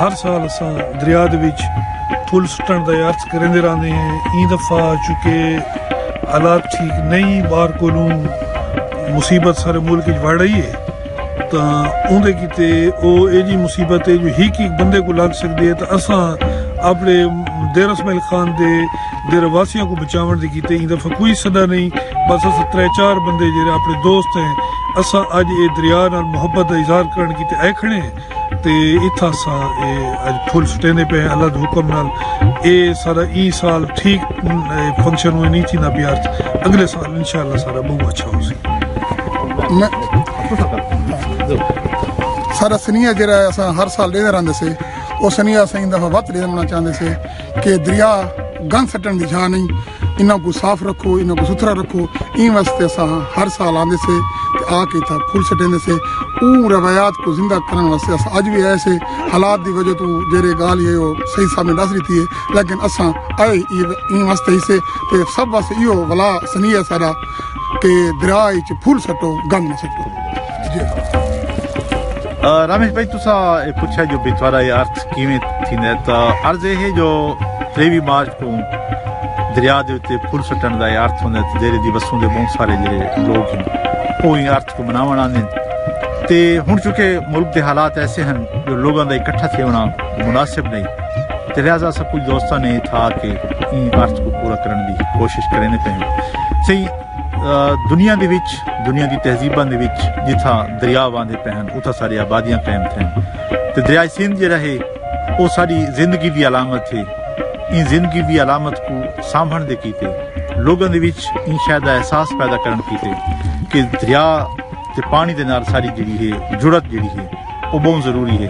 ہر سال اساں دریا دے وچ پھل سٹن دا عرض کریندے رہندے ہیں ایں دفعہ چونکہ حالات ٹھیک نہیں باہر کولوں مصیبت سارے ملک وچ وڑ رہی ہے تاں اوندے کیتے او اے جی مصیبت ہے جو ہک ہک بندے کو لگ سکدی ہے تاں اساں اپنے دیر اسماعیل خان دے دے رہواسیاں کوں بچاوݨ دے کیتے ایں دا فکوئی سݙا نئیں بس اساں ترے چار بندے جیرھے آپݨے دوست ہیں اساں اڄ اے دریا نال محبت دا اظہار کرݨ کیتے آئے کھڑے ہیں تے اتھاں اساں اے اڄ پھل سٹیندے پئے ہیں اللہ دے حکم نال اے سارا ایں سال ٹھیک فنکشن اونویں نئیں تھیندا پیا ارتھ اگلے سال انشاءاللہ سارا ٻہوں اچھا ہوسی سارا سنیہ جیرھا ہے اساں ہر سال ݙیندے رہندے سے او سنیہ اساں ایں دفعہ ودھ ݙیوݨا چاہندے سے۔ کہ دریا گند سٹن دی جھا نہیں انہاں کو صاف رکھو انہاں کو ستھرا رکھو این واسطے اساں ہر سال آندے سے تے آ کے تھا پھول سٹیندے سے اون روایات کو زندہ کرن واسطے اساں اج بھی ایسے حالات دی وجہ تو جیرے گال یہ ہو صحیح صاحب نے دس رہتی ہے لیکن اساں اے این واسطے ہی سے تے سب واسطے ایو ولا سنیہ سارا تے دریا اچ پھل سٹو گند نہ سٹو جے رمیش بھائی تسا پوچھا جو بچوارا یہ ارتھ کیویں تھیندا ہے تا عرض یہ ہے جو 23 مارچ کو دریا دے اوتے پھل سٹن دا ارتھ ہوندا ہے جڑے دی وسوں دے بہت سارے جڑے لوگ ہیں وہ ارتھ کو مناوݨ آندے ہن تے ہݨ چونکہ ملک دے حالات ایسے ہن جو لوگاں دا اکٹھا تھیوݨا مناسب نہیں تے لہذا اساں کچھ دوستاں نے اتھا آ کے ایں عرض کو پورا کرݨ دی کوشش کریندے پئے ہن سئیں دنیا دے وچ دنیا دی تہذیباں دے وچ جتھاں دریا واندے پئے ہن اتھاں سارے آبادیاں قائم تھئن تے دریائے سندھ جیڑھا ہے او ساڈی زندگی دی علامت ہے۔ ایں زندگی دی علامت کوں سانبھنڑ دے کیتے لوگاں دے وچ ایں شے دا احساس پیدا کرنڑ کیتے کہ دریا تے پانڑی دے نال ساڈی جیڑھی ہے جڑت جیڑھی ہے او بہوں ضروری ہے۔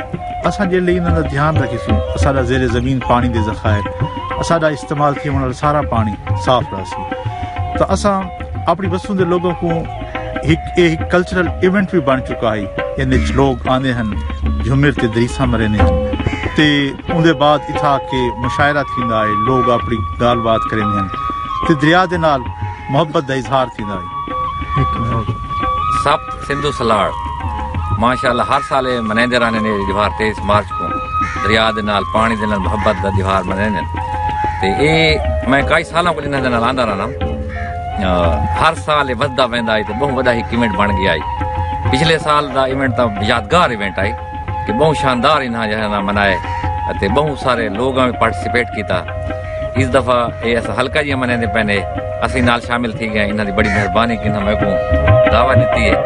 اساں جیڑھے انہاں دا دھیان رکھیسوں اساڈا زیر زمین پانڑی دے ذخائر اساڈا استعمال تھیونڑ آلا سارا پانڑی صاف رہسی تاں اساں اپنڑی وسوں دے لوگاں کوں ہک اے ہک کلچرل ایونٹ وی بن چکا ہئی ان وچ لوگ آندے ہن جھمر تے دریساں مریندے ہن تے اون دے بعد اتھا آ کے مشاعرہ تھیندا ہے لوگ اپنی گال بات کریندے ہن تے دریا دے نال محبت دا اظہار تھیندا ہے سبت سندھو سلاڑ ماشاءاللہ ہر سال اے منیندے رہندے نے دیوار 23 مارچ کو دریا دے نال پانی دے نال محبت دا دیوار منیندے تے اے میں کئی سالاں کو انہاں دے نال آندا رہنا ہر سال اے ودھدا ویندا ہے تے بہوں وڈا ہک ایونٹ بن گیا ہے پچھلے سال دا ایونٹ تاں یادگار ایونٹ ہے کہ بہوں شاندار انہاں جہاں منائے اتے بہوں سارے لوگاں وی پارٹیسپیٹ کیتا اس دفعہ اے اس حلقہ جی منیندے پینے اسی نال شامل تھی گئے انہاں دی بڑی مہربانی کہ انہاں میکوں دعوت دیتی ہے